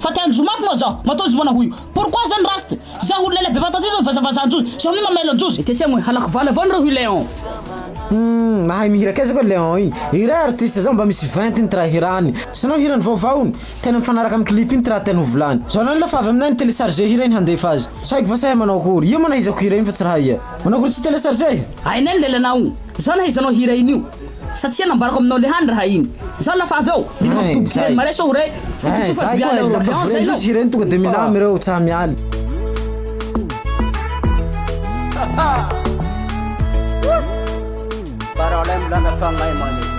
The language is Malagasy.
Fa tiany jomo ato moa zao matoa jomo ana hoio pourquoi zany rasta za olona ela be matoa ty zao vazavaza anjozy zao mi mamelo anjozy. Etsy amoy halako vala avao nareo hoy Léon. Humm mahay mihira kay zao ka Léon iny. Ireha artiste zao mba misy ventiny ty raha hirany. Sanao hirany vaovaony? Tena mifanaraka amin'ny clip iny ty raha tiany ho volany. Zao anao lafo avy aminay ny telecharger hira iny handefa azy. Tsy haiko va sa hay manao akory. Io moa nahaizako hira iny fa tsy raha ia. Manao akory tsy telecharger? Hainay ny lelanao. Za nahaizanao hira iny io. Satria nambarako aminao lehany raha iny Zao lafa avy eo mila mampidoboky reny Marais sao Ray Fototsy io fa tsy miala eo Orleans zay zao Ireny tonga de milamy reo tsa miala Parole mbolana fagnahy mane